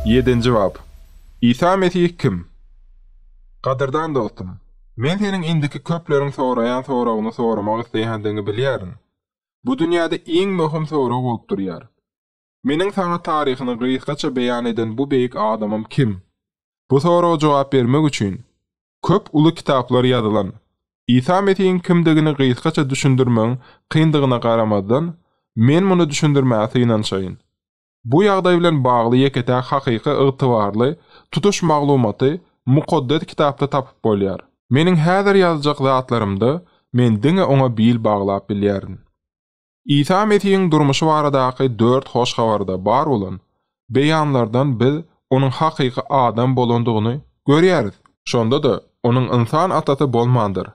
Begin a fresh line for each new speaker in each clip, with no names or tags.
Ýedinji bap. Isa Mesih kim? Gadyrdan dostum, men seniň indiki köpleriň soraýan soragyny soramak isleýändigiňi bilýärin. Bu dünýäde iň möhüm sorag bolup durýar. Meniň saňa taryhyny gysgaça beýan eden bu beýik adamym kim? Bu soraga jogap bermek üçin, köp uly kitaplar ýazylan. Isa Mesihiň kimdigini gysgaça düşündirmegiň kyndygyna garamazdan, men muny düşündirmäge synanşaýyn. Bu ýagdaý bilen bagly ýeke-täk hakyky ygtybarly, tutuş maglumaty Mukaddes Kitapda tapyp bolýar. Meniň häzir ýazjak zatlarymda men diňe oňa bil baglap bilýärin. Isa Mesihiň durmuşy baradaky dört hoş habarda bar bolan beýanlardan biz Onuň hakyky adam bolandygyny görýäris. Şonda-da, Onuň ynsan atasy bolmandyr.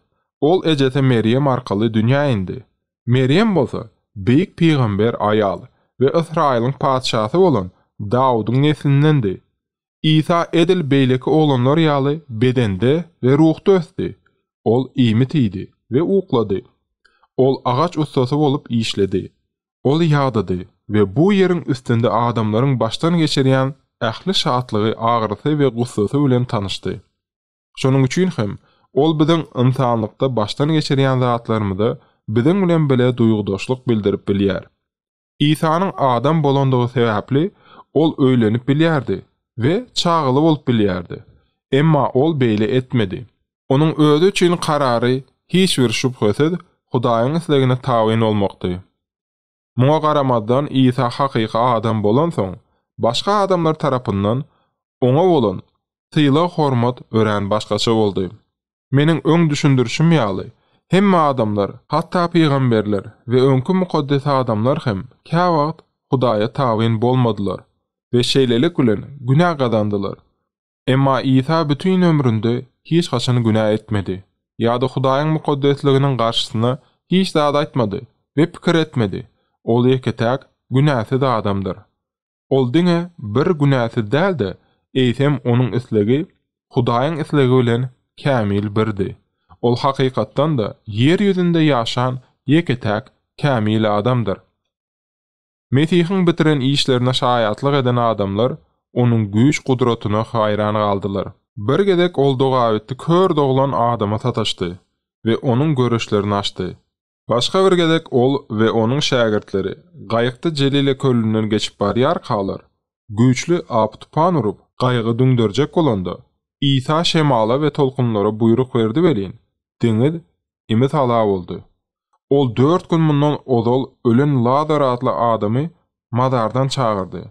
Ol ejesi Merýem arkaly dünýä indi. Merýem bolsa, beýik pygamber aýal we Ysraýylyň patyşasy bolan Dawudyň neslindendi. Isa edil beýleki oglanlar ýaly bedende we ruhda ösdi. Ol iýmit iýdi we uklady. Ol agaç ussasy bolup işledi. Ol ýadady we bu ýeriň üstünde adamlaryň başdan geçirýän ähli şatlygy, agyrysy we gussasy bilen tanyşdy. Şonuň üçin hem, ol biziň ynsanlykda başdan geçirýän zatlarymyza biziň bilen bile duýgudaşlyk bildirip bilýär. Isanyň adam bolandygy sebäpli, ol öýlenip bilýärdi we çagaly bolup bilýärdi. Emma ol beýle etmedi. Onuň özi üçin karary, hiç bir şübhesiz, Hudaýyň islegine tabyn bolmakdy. Muňa garamazdan, Isa hakyky adam bolansoň, başga adamlar tarapyndan oňa bolan sylag-hormat örän başgaça boldy. Meniň öň düşündirişim ýaly, hemme adamlar, hatda pygamberler we öňki mukaddes adamlar hem käwagt Hudaýa tabyn bolmadylar we şeýlelik bilen günä gazandylar. Emma Isa bütin ömründe hiç haçan günä etmedi ýa-da Hudaýyň mukaddesliginiň garşysyna hiç zat aýtmady we pikir etmedi, ol ýeke-täk günäsiz adamdyr. Ol diňe bir günäsiz däldi, eýsem onuň islegi Hudaýyň islegi bilen kämil birdi. Ol hakykatdan-da ýer ýüzünde ýaşan ýeke-täk kämil adamdyr. Mesihiň bitiren işlerine şaýatlyk eden adamlar Onuň güýç-gudratyna haýran galdylar. Bir gezek Ol dogabitdi kör doglan adama sataşdy we onuň görüşlerini açdy. Başga bir gezek ol we onuň şägirtleri gaýykda Jelile kölünden geçip barýarkalar, güýçli ap-tupan urup, gaýygy düňderjek bolanda, Isa şemala we tolkunlara buýruk berdi welin, deňiz imi-sala boldy. Ol dört gün mundan ozal ölen Lazar atly adamy mazardan çagyrdy.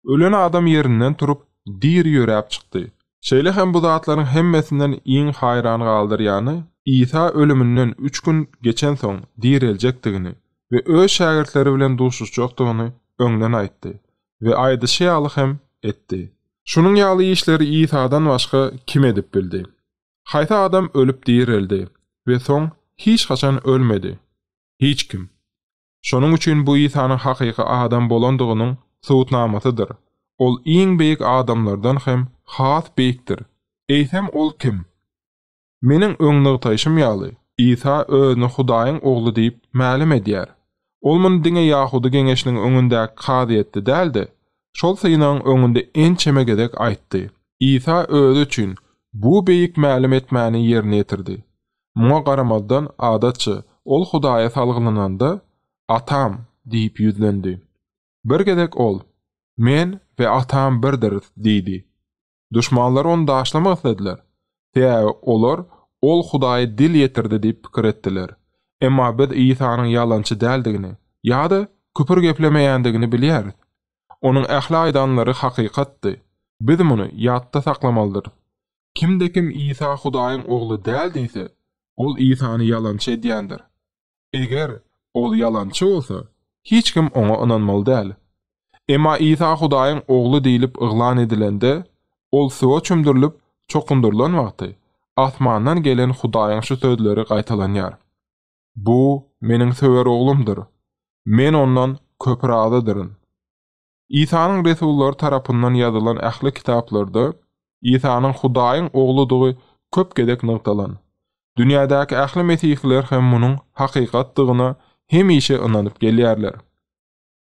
Ölen adam ýerinden turup, diri ýöräp çykdy. Şeýle hem bu zatlaryň hemmesinden iň haýran galdyrýany, Isa ölüminden üç gün geçensoň direljekdigini we öz şägirtleri bilen duşuşjakdygyny öňden aýtdy we aýdyşy ýaly hem etdi. Şunuň ýaly işleri Isadan başga kim edip bildi? Haýsy adam ölüp direldi we soň hiç haçan ölmedi? Hiç kim. Şonuň üçin bu Isanyň hakyky adam bolandygynyň subutnamasydyr. Ol iň beýik adamlardan hem has beýikdir. Eýsem ol kim? Meniň öň nygtaýşym ýaly, Isa özüni Hudaýyň Ogly diýip mälim edýär. Ol muny diňe ýahudy geňeşiniň öňündäki kazyýetde däl-de, şol synagyň öňünde ençeme gezek aýtdy. Isa özi üçin bu beýik mälim etmäni ýerine ýetirdi. Muňa garamazdan, adatça, ol Hudaýa salgylananda, Atam! diýip ýüzlendi. Bir gezek ol, Men we Atam birdiris diýdi. Duşmanlary ony daşlamak islediler, sebäbi olar ol Hudaýa dil ýetirdi diýip pikir etdiler. Emma biz Isanyň ýalançy däldigini ýa-da küpür geplemeýändigini bilýäris. Onuň ähli aýdanlary hakykatdy. Biz muny ýatda saklamalydyrys. Kimde-kim Isa Hudaýyň Ogly däl diýse, ol Isany ýalançy edýändir. Eger, ol ýalançy bolsa, hiç kim oňa ynanmaly däl. Emma Isa Hudaýyň Ogly diýlip yglan edilende, ol suwa çümdürilip, çokundyrylan wagty, asmandan gelen Hudaýyň şu sözleri gaýtalanýar, Bu, Meniň söwer Oglumdyr. Men Ondan köp razydyryn. Isanyň resullary tarapyndan ýazylan ähli kitaplarda Isanyň Hudaýyň Ogludygy köp gezek nygtalan. Dünýädäki ähli mesihiler hem munuň hakykatdygyna hemişe ynanyp gelýärler.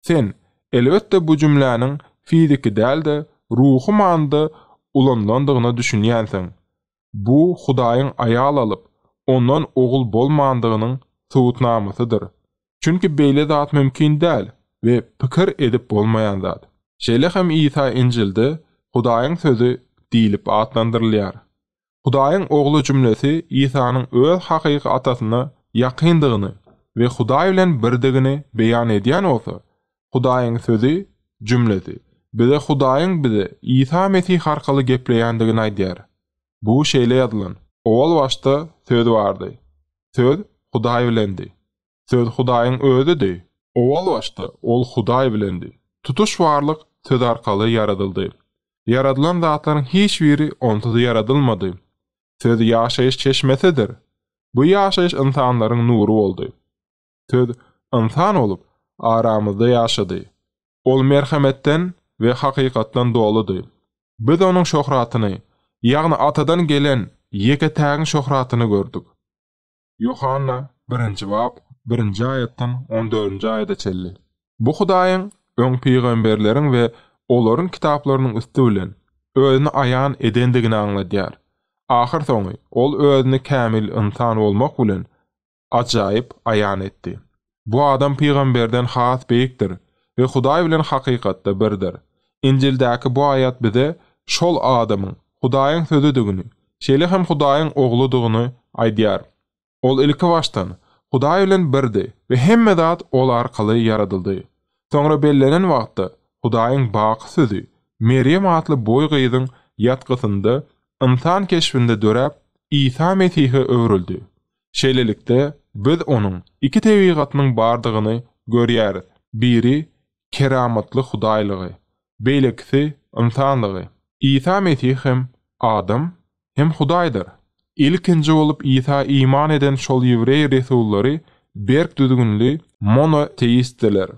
Sen, elbetde, bu jümläniň fiziki däl-de, ruhy manyda ulanylandygyna düşünýänsiň. Bu Hudaýyň aýal alyp, ondan ogul bolmandygynyň subutnamasydyr. Çünki beýle zat mümkin däl we pikir edip bolmaýan zat. Şeýle hem Isa Injilde Hudaýyň Sözi diýlip atlandyrylýar. Hudaýyň Ogly jümlesi Isanyň öz hakyky Atasyna ýakyndygyny we Hudaý bilen birdigini beýan edýän bolsa, Hudaýyň sözi, jümlesi, bize Hudaýyň bize Isa Mesih arkaly gepleýändigini aýdýar. Bu şeýle ýazylan, Owal başda Söz bardy. Söz Hudaý bilendi. Söz Hudaýyň Özüdi. Owal başda Ol Hudaý bilendi. Tutuş barlyk Söz arkaly ýaradyldy. Ýaradylan zatlaryň hiç biri Onsuz ýaradylmady. Söz ýaşaýyş çeşmesidir. Bu ýaşaýyş ynsanlaryň nury boldy. Söz ynsan bolup, aramyzda ýaşady. Ol merhemetden we hakykatdan doludy. Biz onuň şöhratyny, ýagny Atadan gelen Ýeke-tägiň şöhratyny gördük. Ýohanna, birinji bap, birinji aýatdan on dördünji aýada çenli. Bu Hudaýyň öň pygamberleriň we olaryň kitaplarynyň üsti bilen Özüni aýan edendigini aňladýar. Ahyrsoňy Ol Özüni kämil ynsan bolmak bilen ajaýyp aýan etdi. Bu adam pygamberden has beýikdir we Hudaý bilen hakykatda birdir. Injildäki bu aýat bize şol adamyň Hudaýyň Sözüdigini, şeýle hem Hudaýyň Ogludygyny aýdýar. Ol ilkibaşdan Hudaý bilen birdi we hemme zat ol arkaly ýaradyldy. Soňra bellenen wagtda Hudaýyň baky Sözi Merýem atly boý gyzyň ýatgysynda ynsan keşbinde döräp, Isa Mesihe öwrüldi. Şeýlelikde, biz onuň iki tebigatynyň bardygyny görýäris, biri, keramatly hudaýlygy, beýlekisi, ynsanlygy. Isa Mesih hem adam, hem Hudaýdyr. Ilkinji bolup Isa iman eden şol ýewreý resullary berk düzgünli monoteistdiler.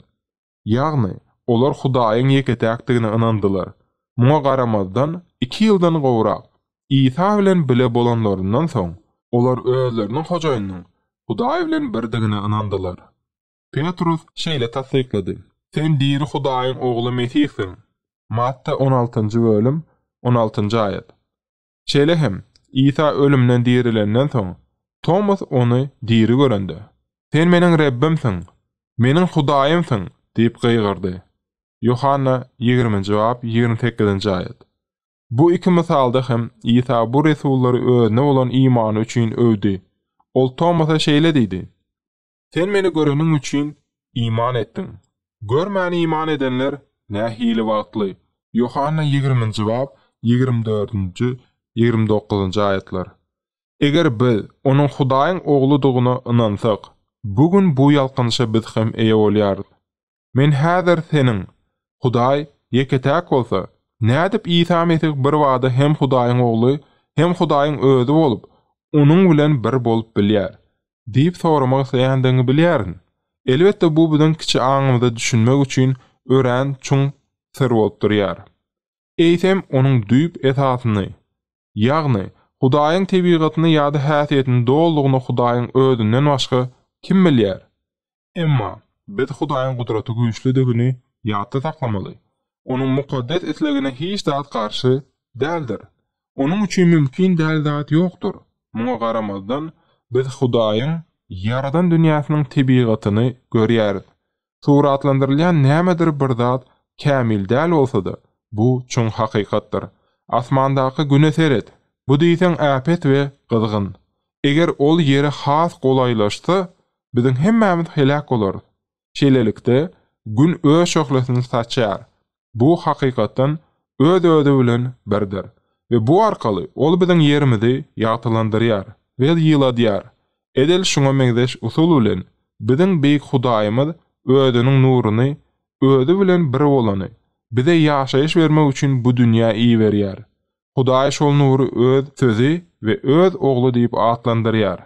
Ýagny, olar Hudaýyň ýeke-täkdigine ynandylar. Muňa garamazdan, iki ýyldan gowrak Isa bilen bile bolanlaryndan soň, olar özleriniň Hojaýynyň Hudaý bilen birdigine ynandylar. Petrus şeýle tassyklady, Sen diri Hudaýyň Ogly Mesihsiň. Matta on altynjy bölüm, on altynjy aýat. Şeýle hem, Isa ölümden dirilenden soň, Tomas Ony diri görende, Sen meniň Rebbimsiň, meniň Hudaýymsyň! diýip gygyrdy. Ýohanna ýigriminji bap ýigrimi sekizinji aýat. Bu iki mysalda hem Isa bu resullary Özüne bolan imany üçin öwdi. Ol Tomasa şeýle diýdi, Sen meni göreniň üçin, iman etdiň. Görmän iman edenler nähili bagtly! Ýohanna ýigriminji bap, ýigrimi dördünji, ýigrimi dokuzynjy aýatlar. Eger biz Onuň Hudaýyň Ogludygyna ynansak, bu gün bu ýalkanyşa biz hem eýe bolýarys. Men häzir seniň, Hudaý ýeke-täk bolsa, nädip Isa Mesih birbada hem Hudaýyň Ogly, hem Hudaýyň Özi bolup, Onuň bilen bir bolup bilýär? diýip soramak isleýändigiňi bilýärin. Elbetde, bu biziň kiçi aňymyza düşünmek üçin örän çuň syr bolup durýar. Eýsem, onuň düýp esasyny, ýagny, Hudaýyň tebigatyny ýa-da häsiýetini dolygyna Hudaýyň Özünden başga kim bilýär? Emma, biz Hudaýyň gudraty güýçlüdigini ýatda saklamaly. Onuň mukaddes islegine hiç zat garşy däldir. Onuň üçin mümkin däl zat ýokdur. Muňa garamazdan, biz Hudaýyň ýaradan dünýäsiniň tebigatyny görýäris. Suratlandyrylýan nämedir bir zat kämil däl bolsa-da, bu çuň hakykatdyr. Asmandaky Güne seret. Bu diýseň äpet we gyzgyn. Eger ol Ýere has golaýlaşsa, biziň hemmämiz heläk bolarys. Şeýlelikde, Gün öz şöhlesini saçýar. Bu, hakykatdan, öz-özi bilen birdir we bu arkaly ol biziň ýerimizi ýagtylandyrýar we ýyladýar. Edil şuňa meňzeş usul bilen biziň Beýik Hudaýymyz Özüniň nuruny, Özi bilen bir bolany, bize ýaşaýyş bermek üçin bu dünýä iberýär. Hudaý şol nury Öz Sözi we Öz Ogly diýip atlandyrýar.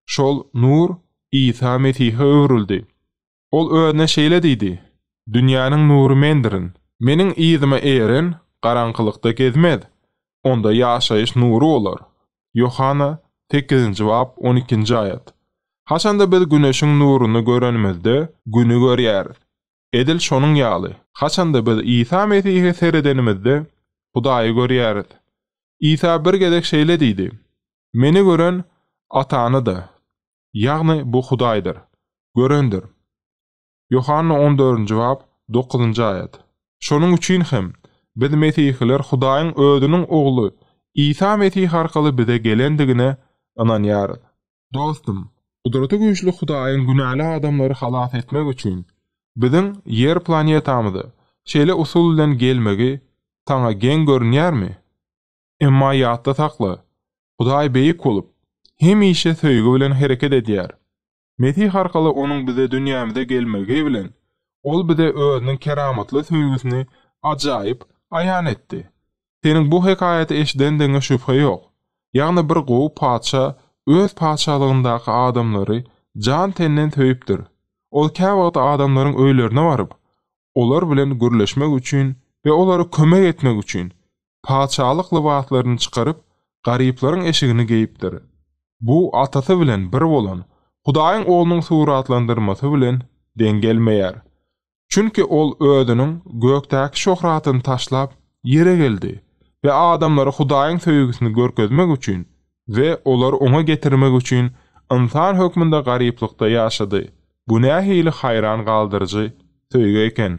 Şol Nur Isa Mesihe öwrüldi. Ol Özüne şeýle diýdi, Dünýäniň nury Mendirin. Meniň yzyma eren garaňkylykda gezmez, onda ýaşaýyş nury bolar. Ýohanna, sekizinji bap, on ikinji aýat. Haçanda biz Güneşiň nuruny görenimizde, Güni görýäris. Edil şonuň ýaly, haçanda biz Isa Mesihe seredenimizde, Hudaýy görýäris. Isa bir gezek şeýle diýdi, Meni gören Atany-da, ýagny bu Hudaýdyr, görendir. Ýohanna on dördünji bap, dokuzynjy aýat. Şonuň üçin hem, biz mesihiler Hudaýyň Özüniň Ogly Isa Mesih arkaly bize gelendigine ynanýarys. Dostum, Gudraty Güýçli Hudaýyň günäli adamlary halas etmek üçin biziň Ýer planetamyza şeýle usul bilen gelmegi saňa geň görünýärmi? Emma ýatda sakla, Hudaý beýik bolup, hemişe söýgi bilen hereket edýär. Mesih arkaly Onuň bize dünýämize gelmegi bilen, Ol bize Özüniň keramatly söýgüsini ajaýyp aýan etdi. Seniň bu hekaýaty eşidendigiňe şübhe ýok. Ýagny bir gowy patyşa öz patyşalygyndaky adamlary jan-tenden söýüpdir. Ol käwagt adamlaryň öýlerine baryp, olar bilen gürleşmek üçin we olara kömek etmek üçin, patyşalyk lybaslaryny çykaryp, garyplaryň eşigini geýipdir. Bu Atasy bilen bir bolan Hudaýyň Oglunyň suratlandyrmasy bilen deň gelmeýär. Çünki ol özüniň gökdäki şöhratyny taşlap, ýere geldi we adamlara Hudaýyň söýgüsini görkezmek üçin we olary Oňa getirmek üçin ynsan hökmünde garyplykda ýaşady. Bu nähili haýran galdyryjy söýgi eken!